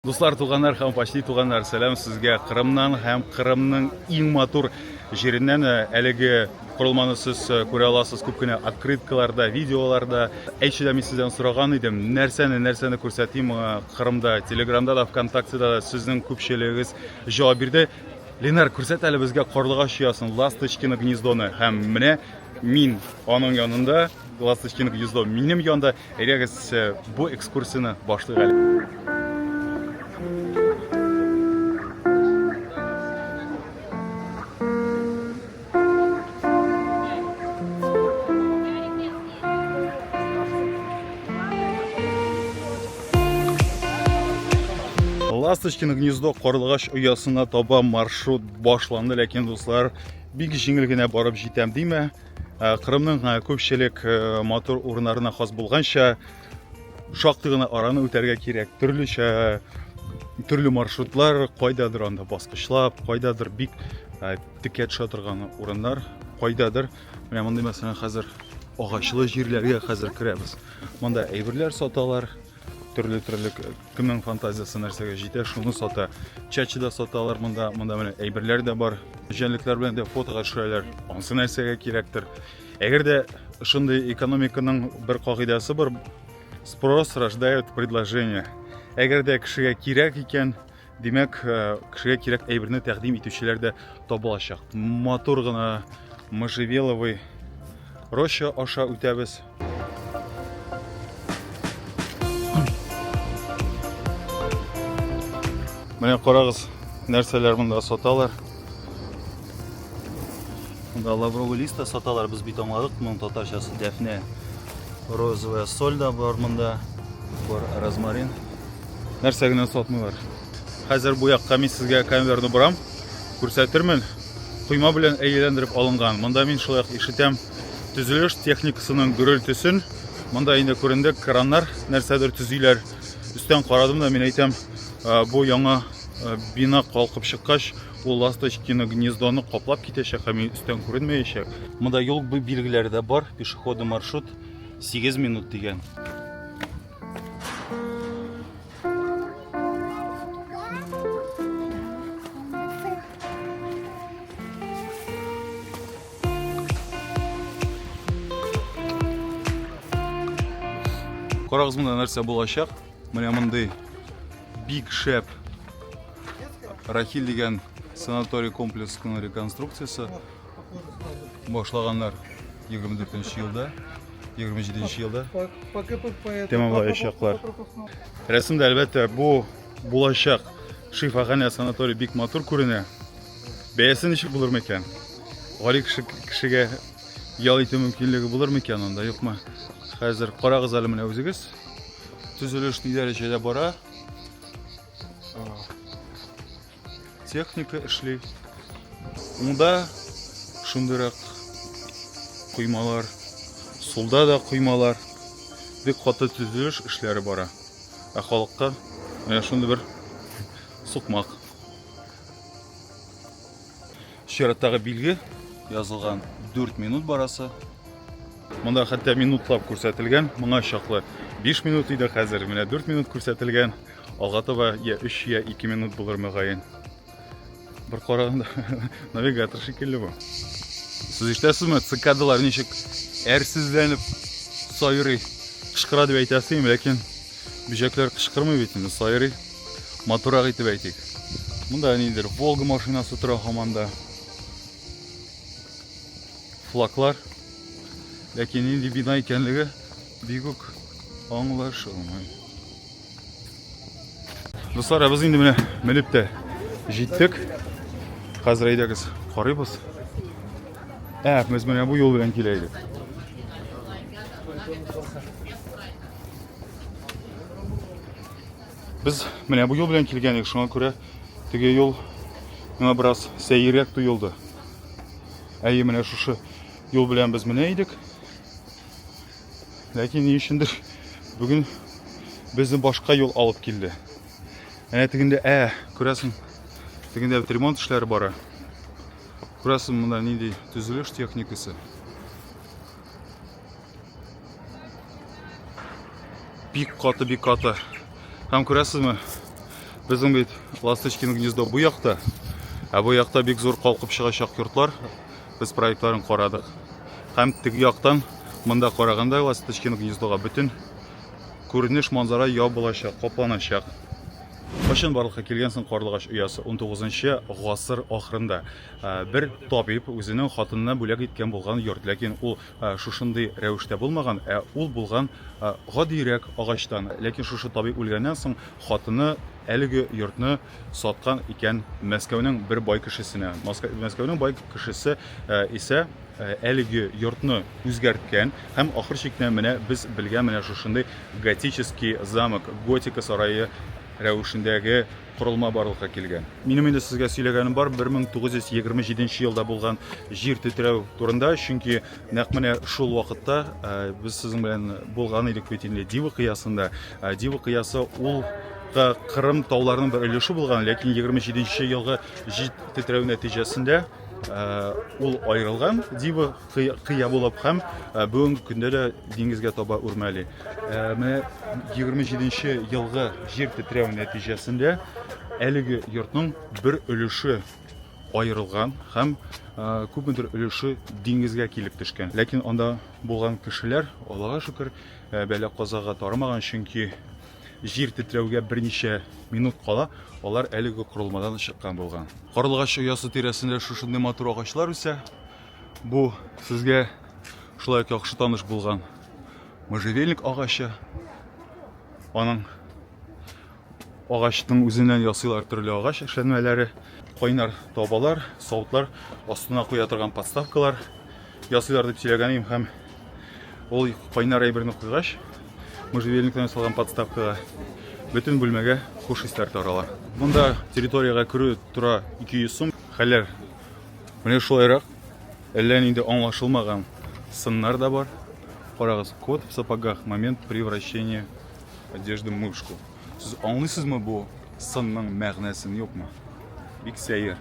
Дуслар, туганнар һәм почти туганнар, сәлам сезгә Кырымнан һәм Кырымның иң матур җиреннән. Э, әлеге корылманы сез э, күрә аласыз күп кенә открыткаларда, видеоларда. Әйтче дә мин сездән сораган идем, нәрсәне, нәрсәне күрсәтим э, Кырымда, Телеграмда да, ВКонтактеда да сезнең күпчелегегез җавап бирде. Ленар, күрсәт әле безгә карлыгач оясын, ласточкино гнездоны һәм менә мин аның янында Ласточкино гнездо минем янда. Әйдәгез э, бу экскурсияне башлыйк әле. Ласточкино гнездо карлыгач оясына таба маршрут башланды, ләкин дуслар, бик җиңел генә барып җитәм димә. Э, Кырымның э, күпчелек э, матур урыннарына хас булганча, шактый гына араны үтәргә кирәк. Төрлечә төрле маршрутлар, кайдадыр анда баскычлап, кайдадыр бик текә төшә торган урыннар, кайдадыр менә мондый мәсәлән хәзер агачлы җирләргә хәзер керәбез. Монда әйберләр саталар, Төрле төрле кемнең фантазиясы нәрсәгә җитә, шуны сата. Чачы да саталар монда, монда менә әйберләр дә бар. Җәнлекләр белән дә фотога төшәләр. Ансы нәрсәгә кирәктер. Әгәр дә шундый экономиканың бер кагыйдәсе бар, спрос рождает предложение. Әгәр дә кешегә кирәк икән, Димәк, э, кешегә кирәк әйберне тәкъдим итүчеләр дә табылачак. Матур гына можжевеловый роща аша үтәбез. Менә карагыз, нәрсәләр монда саталар. Монда лавровый лист та саталар, без бит аңладык, моның татарчасы дәфнә. Розовая соль да бар монда, бар розмарин. нәрсә генә сатмыйлар. Хәзер бу якка мин сезгә камерны борам, күрсәтермен. Койма белән әйләндереп алынган. Монда мин шулай ишетәм төзелеш техникасының гөрелтесен. Монда инде күренде краннар нәрсәдер төзиләр. Өстән карадым да мин әйтәм, бу яңа бина калкып чыккач, ул ласточкины гнездоны каплап китәчәк, һәм өстән күренмәячәк. Монда юл билгеләре дә бар, пешеходный маршрут 8 минут дигән. Карагыз монда нәрсә булачак. Менә мондый бик шәп Рахиль дигән санаторий комплексының реконструкциясе. Башлаганнар 24 елда, 27 елда тәмамлаячаклар. Рәсемдә, әлбәттә, бу булачак шифаханә санаторий бик матур күренә. Бәясе ничек булыр микән? Гали кеше кешегә ял итү мөмкинлеге булыр микән анда, юкмы? Хәзер карагыз әле менә үзегез. Төзелеш ни дәрәҗәдә бара? техника эшли. Уңда шундыйрак коймалар, сулда да коймалар. Бик каты төзелеш эшләре бара. Ә халыкка менә шундый бер сукмак. Чираттагы билге язылган 4 минут барасы. Монда хәтта минутлап күрсәтелгән, моңа чаклы 5 минут иде, хәзер менә 4 минут күрсәтелгән. Алга таба я 3, я 2 минут булыр мөгаен. Бер караганда навигатор шикелле бу. Сез ишетәсезме, цикадалар ничек әрсезләнеп сайрый, кычкыра дип әйтәсем, ләкин бөҗәкләр кычкырмый бит инде, сайрый. Матурак итеп әйтик. Монда нидер Волга машинасы тора хаманда. Флаглар. Ләкин нинди бина икәнлеге бигүк аңлашылмый. Дуслар, без инде менә менеп тә җиттек. Хәзер әйдәгез, карыйбыз. Ә, без менә бу юл белән килә идек. Без менә бу юл белән килгән идек, шуңа күрә теге юл миңа бераз сәеррәк тоелды. Әйе, менә шушы юл белән без менә идек. Ләкин ни өчендер бүген безне башка юл алып килде. Әнә тегендә, ә, күрәсең, тегендә бит ремонт эшләре бара. Күрәсең, монда нинди төзелеш техникасы. Бик каты, бик каты. Һәм күрәсезме, безнең бит Ласточкин гнездо бу якта, ә бу якта бик зур калкып чыгачак йортлар, Без проектларын карадык. Һәм теге яктан, монда караганда, Ласточкино гнездога бөтен күренеш манзара ябылачак, капланачак. Кайчан барлыкка килгән соң карлыгач оясы? 19-нчы гасыр ахырында бер табиб үзенең хатынына бүләк иткән булган йорт, ләкин ул шушындый рәвештә булмаган, ә ул булган гадиерәк агачтан. Ләкин шушы табиб үлгәннән соң хатыны әлеге йортны саткан икән Мәскәүнең бер бай кешесенә. Мәскәүнең бай кешесе э, исә э, әлеге йортны үзгәрткән һәм ахыр чикне менә без белгән менә шушындый готический замок, готика сарае рәвешендәге корылма барлыкка килгән. Минем инде сезгә сөйләгәнем бар 1927 елда булган җир тетрәү турында, чөнки Нәкъ менә шул вакытта без сезнең белән булган идек бит инде Дива кыясында. Дива кыясы ул Кырым тауларының бер өлеше булган, ләкин 27 елгы җит тетрәү нәтиҗәсендә ул аерылган Дива кыя булып һәм бүгенге көндә дә диңгезгә таба үрмәли. Менә 27 елгы җир тетрәү нәтиҗәсендә әлеге йортның бер өлеше аерылган һәм күпмедер өлеше диңгезгә килеп төшкән. Ләкин анда булган кешеләр, Аллага шөкер, бәла-казага тарымаган, чөнки җир тетрәүгә берничә минут кала алар әлеге корылмадан чыккан булган. Карлыгач оясы тирәсендә шушындый матур агачлар үсә. Бу сезгә шулай ук яхшы таныш булган можжевельник агачы. Аның Агачның үзеннән ясыйлар төрле агач эшләнмәләре, кайнар табалар, савытлар, астына куя торган подставкалар ясыйлар дип сөйләгән идем һәм ул кайнар әйберне куйгач, можжевельниктан ясалган подставкага бөтен бүлмәгә хуш исләр тарала. Монда территориягә керү тора 200 сум. Хәлләр менә шулайрак. Әллә нинди аңлашылмаган сыннар да бар. Карагыз, кот в сапогах, момент превращения Одежда мышку. Сез аңлыйсызмы бу сынның мәгънәсен юкмы? Бик сәер.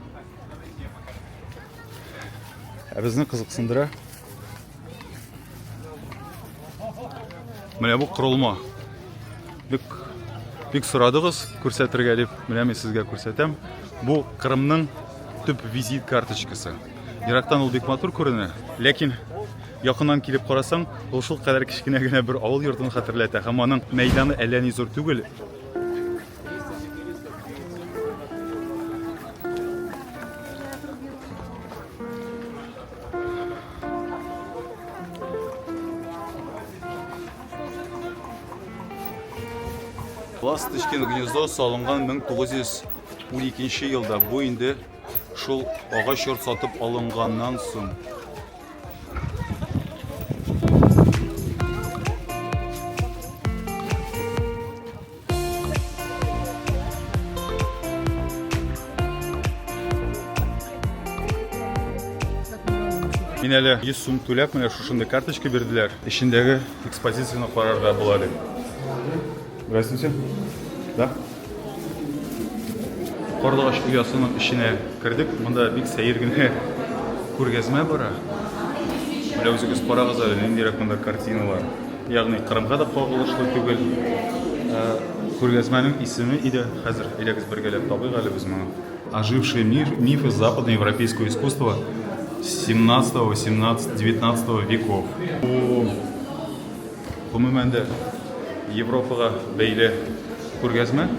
Ә безне кызыксындыра. Менә бу корылма. Бик бик сорадыгыз күрсәтергә дип, менә мин сезгә күрсәтәм. Бу Кырымның төп визит карточкасы. Ерактан ул бик матур күренә, ләкин Якыннан килеп карасаң, ул шул кадәр кечкенә генә бер авыл йортын хәтерләтә һәм аның мәйданы әллә ни зур түгел. Ласточкин гнездо салынган 1912 елда. Бу инде Шул агач йорт сатып алынганнан соң. Мин әле 100 сум түләп, менә шушындый карточка бирделәр. Эчендәге экспозицияне карарга була әле. Здравствуйте. Да? Карлыгач оясының эченә кердек. Монда бик сәер генә күргәзмә бара. Менә үзегез карагыз әле, ниндирәк монда картиналар. Ягъни Кырымга да кагылышлы түгел. Ә, Күргәзмәнең исеме иде. Хәзер әйдәгез бергәләп табыйк әле без моны. Ожившие миф, мифы западноевропейского искусства 17, 18, 19 веков. Бу Гомумән дә, Европага бәйле күргәзмә.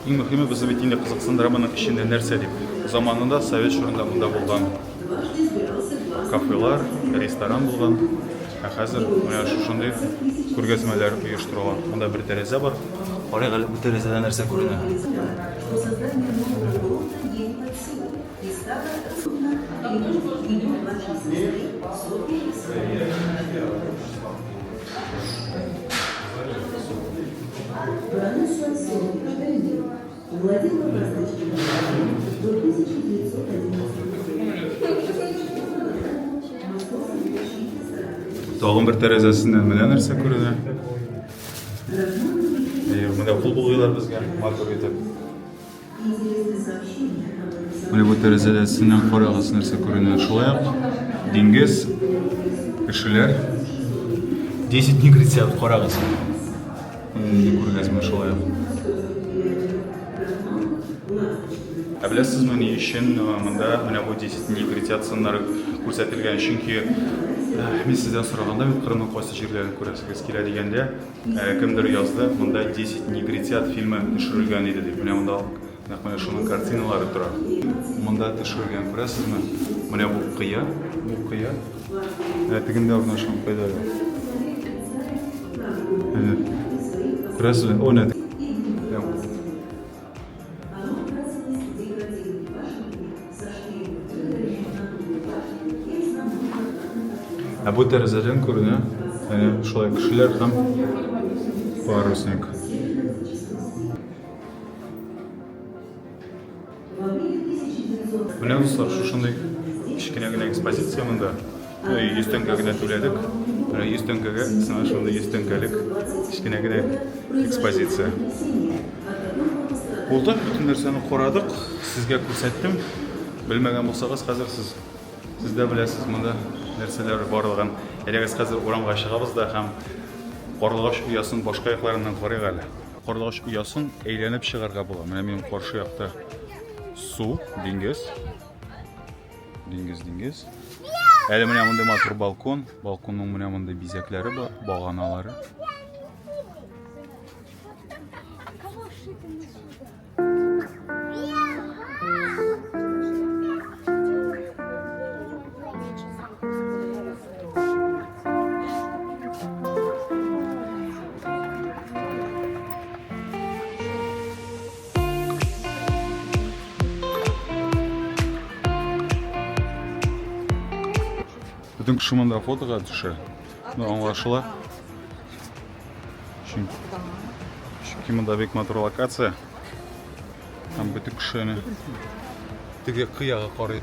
Иң мөһиме, безне бит инде кызыксындыра моның эчендә нәрсә дип. Заманында совет чорында монда булган кафелар, ресторан булган. Ә хәзер менә шушындый күргәзмәләр оештырыла. Монда бер тәрәзә бар. Карыйк әле бу тәрәзәдә нәрсә күренә. Тагын бер тәрәзәсеннән менә нәрсә күренә. Менә кул булгыйлар безгә, матур итеп. Менә бу тәрәзәсеннән карагыз, нәрсә күренә. Шулай ук диңгез, кешеләр. 10 дней грецияда карагыз. Менә күргәзмә шулай ук. Ә беләсезме ни өчен монда менә бу 10 дней грециясыннар күрсәтелгән? Чөнки мин сездән сораганда, бит Кырымның кайсы җирләрен күрәсегез килә дигәндә, Кемдер язды, монда Десять негритят фильмы төшерелгән иде дип. Менә монда нәкъ менә шуның картиналары тора. Монда төшерелгән, күрәсезме? Менә бу кыя, бу кыя. Ә тегендә урнашкан кыяда. Күрәсезме? О, нә. Ә бу тәрәзәдән күренә, әнә шулай кешеләр һәм парусник. Менә дуслар, шушындый кечкенә генә экспозиция монда. 100 тәңкә генә түләдек. Менә 100 тәңкәгә сиңа шундый 100 тәңкәлек кечкенә генә экспозиция. Булды, бөтен нәрсәне карадык, сезгә күрсәттем. Белмәгән булсагыз, хәзер сез сез дә беләсез монда нәрсәләр барлыгын. Әйдәгез хәзер урамга чыгабыз да һәм карлыгач оясын башка якларыннан карыйк әле. Карлыгач оясын әйләнеп чыгарга була. Менә минем каршы якта су, диңгез. Диңгез, диңгез. Әле менә мондый матур балкон. Балконның менә мондый бизәкләре бар, баганалары. Бөтен кеше монда фотога төшә. Ну, аңлашыла. Чөнки, чөнки монда бик матур локация. Һәм бөтен кешене теге кыяга карый.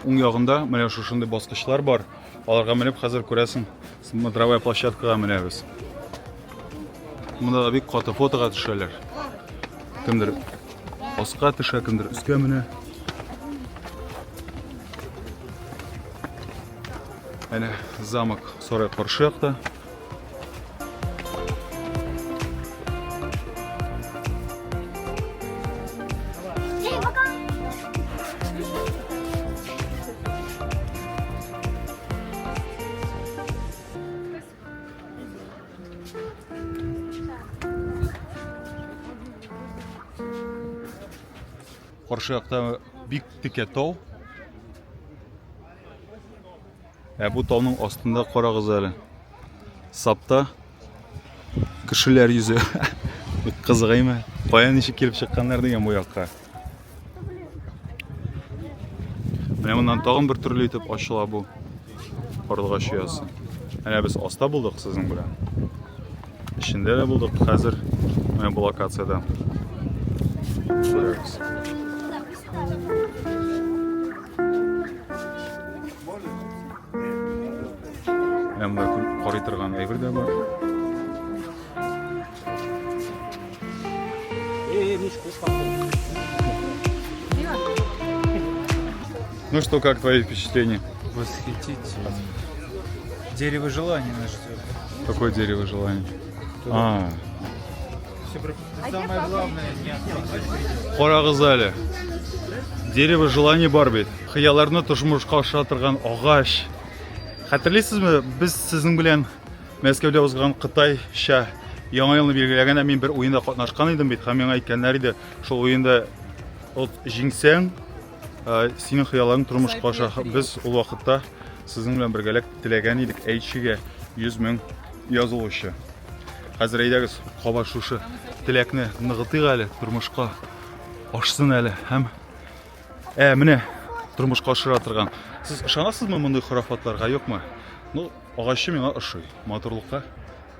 Уң ягында менә шушындый баскычлар бар. Аларга менеп хәзер күрәсең, смотровая площадкага менәбез. Монда да бик каты фотога төшәләр. Кемдер аска төшә, кемдер өскә менә. Әнә замок сарай каршы якта. каршы якта бик текә тау Ә бу тауның астында карагыз әле. Сапта кешеләр йөзе. Бик кызыгыймы? Кая ничек килеп чыкканнар дигән бу якка. Менә моннан тагын бер төрле итеп ачыла бу карлыгач оясы. Әнә без аста булдык сезнең белән. Эчендә дә булдык хәзер менә бу локациядә. Күрәбез. Әмма карый торган әйбер дә бар. Ну что, как твои впечатления? Восхитительно. Дерево желания наш зовут. Какое дерево желания? А. А самое главное, не отстать. Карагызали. Дерево желания бар бит. Хыялларны тошмышка аша торган агач. Хәтерлисезме, без сезнең белән Мәскәүдә узган Кытайча яңа елны билгеләгәндә мин бер уенда катнашкан идем бит һәм миңа әйткәннәр иде, шул уенда от җиңсәң, Ә, синең хыялларың тормышка аша. Без ул вакытта сезнең белән бергәләп теләгән идек әйтчегә 100 мең язылучы. Хәзер әйдәгез, каба шушы теләкне ныгытыйк әле, тормышка ашсын әле һәм ә менә тормышка ашыра торган. Сез ышанасызмы мондый хорафатларга, юкмы? Ну, агачы миңа ошый, матурлыкка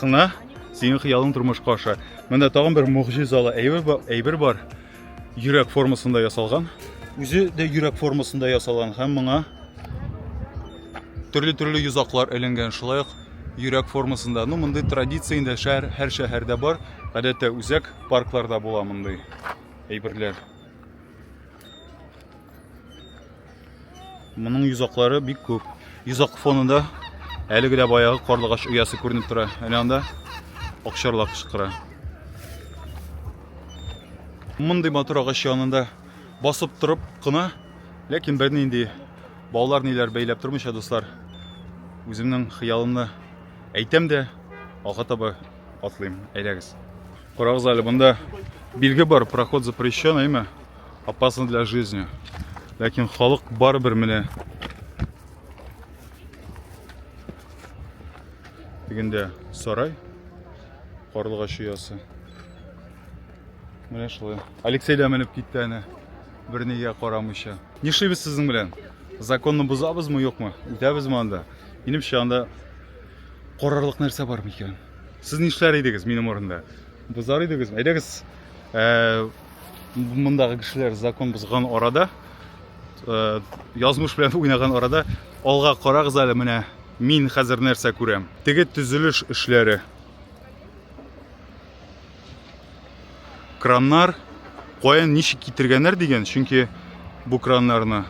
Кына синең хыялың тормышка аша. Монда тагын бер могҗизалы әйбер бар. Йөрәк формасында ясалган. Үзе дә йөрәк формасында ясалган һәм моңа төрле-төрле йозаклар эленгән. Шулай ук йөрәк формасында. Ну, мондый традиция инде шәһәр, һәр шәһәрдә бар. Гадәттә үзәк паркларда була мондый әйберләр. Моның йозаклары бик күп. Йозак фонында әлеге дә баягы карлыгач оясы күренеп тора. Әнә анда акчарлак кычкыра. Мондый матур агач янында басып торып кына, ләкин бернинди баулар ниләр бәйләп тормыйча, дуслар, үземнең хыялымны әйтәм дә, алга таба атлыйм. Әйдәгез. Карагыз әле, монда билге бар, проход запрещен, әйме? Опасно для жизни. Ләкин халык барыбер менә. Дигәндә сарай. Карлыгач оясы. Менә шулай. Алексей дә менеп китте әнә. Бернигә карамыйча. Нишлибез сезнең белән? Законны бозабызмы, юкмы? Үтәбезме анда? Минемчә анда карарлык нәрсә бар микән? Сез нишләр идегез минем урында? Бозар идегезме? Әйдәгез, э, Мондагы кешеләр закон бозган арада, э, язмыш белән уйнаган арада, алга карагыз әле менә мин хәзер нәрсә күрәм. Теге төзелеш эшләре. Краннар каян ничек китергәннәр дигән, чөнки бу краннарны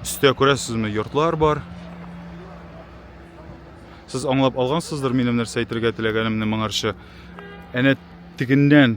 өстә күрәсезме, йортлар бар. Сез аңлап алгансыздыр минем нәрсә әйтергә теләгәнемне моңарчы. Әнә тегеннән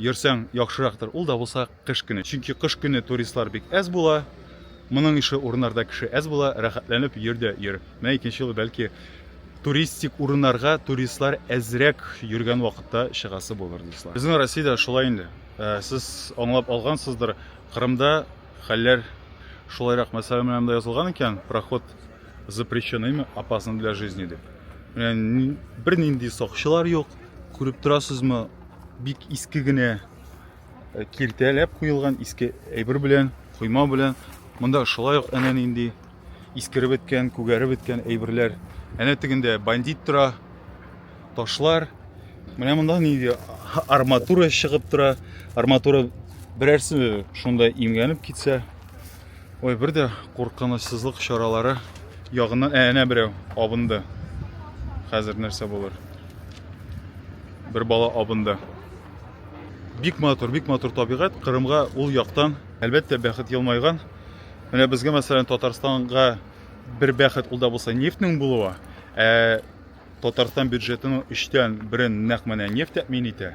Йөрсәң яхшырактыр, ул да булса кыш көне. Чөнки кыш көне туристлар бик әз була. Моның ише урыннарда кеше әз була, рәхәтләнеп йөр дә йөр. Менә икенче юлы бәлки туристик урыннарга туристлар әзрәк йөргән вакытта чыгасы булыр, дуслар. Безнең Россиядә шулай инде. Сез аңлап алгансыздыр, Кырымда Хәлләр шулайрак мәсьәлә менә монда язылган икән, проход запрещен имя, опасно для жизни дип. Менә бернинди сакчылар юк, күреп торасызмы, бик иске генә э, киртәләп куелган иске әйбер белән, койма белән. Монда шулай ук әнә нинди искереп беткән, күгәреп беткән әйберләр. Әнә тегендә бандит тора, ташлар. Менә монда нинди арматура чыгып тора. Арматура берәрсе шунда имгәнеп китсә. Ой, бер дә куркынычсызлык чаралары ягыннан ә, әнә берәү абынды. Хәзер нәрсә булыр? Бер бала абынды. Бик матур, бик матур табигать. Кырымга ул яктан, әлбәттә, бәхет елмайган. Менә безгә, мәсәлән, Татарстанга бер бәхет ул да булса нефтьнең булуы, ә Татарстан бюджетының өчтән берен нәкъ менә нефть тәэмин итә.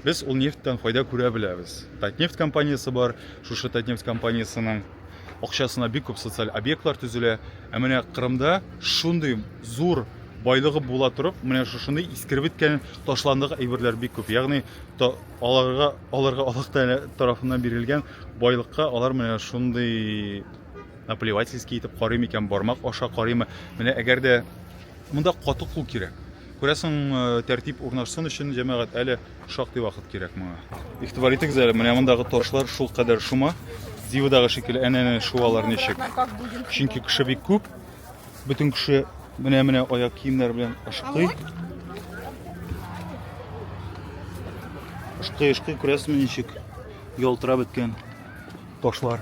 Без ул нефтьтән файда күрә беләбез. Татнефть компаниясе бар, шушы Татнефть компаниясенең акчасына бик күп социаль объектлар төзелә. Ә менә Кырымда шундый зур байлыгы була торып, менә шушындый искереп беткән, ташландык әйберләр бик күп. Ягъни аларга аларга Аллаһ Тәгалә тарафыннан бирелгән байлыкка алар менә шундый наплевательски итеп карый микән, бармак аша карыймы? Менә әгәр дә Монда каты кул кирәк. Күрәсең, тәртип урнашсын өчен, җәмәгать, әле шактый вакыт кирәк моңа. Игътибар итегез әле, менә мондагы ташлар шул кадәр шума. Дивадагы шикелле әнә-әнә шуалар ничек. Чөнки кеше бик күп. Бөтен кеше менә-менә аяк киемнәр белән ашкый. Ашкый-ашкый күрәсең ничек ялтырап беткән ташлар.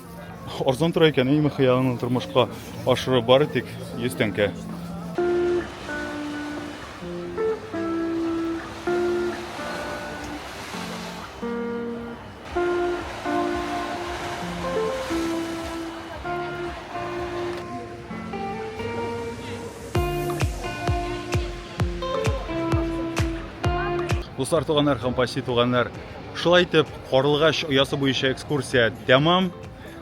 Арзан тора икән, әйме хыялыңны тормышка ашырып бары тик 100 тәңкә. Дуслар, туганнар һәм почти туганнар, Шулай итеп, Карлыгач оясы буенча экскурсия тәмам.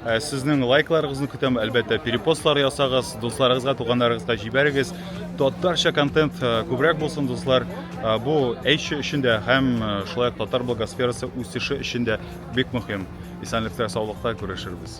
Ә, Сезнең лайкларыгызны көтәм, әлбәттә, перепостлар ясагыз, дусларыгызга, туганнарыгызга җибәрегез. Татарча контент э, күбрәк булсын, дуслар. Э, Бу әйче өчен дә һәм э, шулай ук татар блогосферасы үсеше өчен дә бик мөһим. Исәнлектә, саулыкта күрешербез.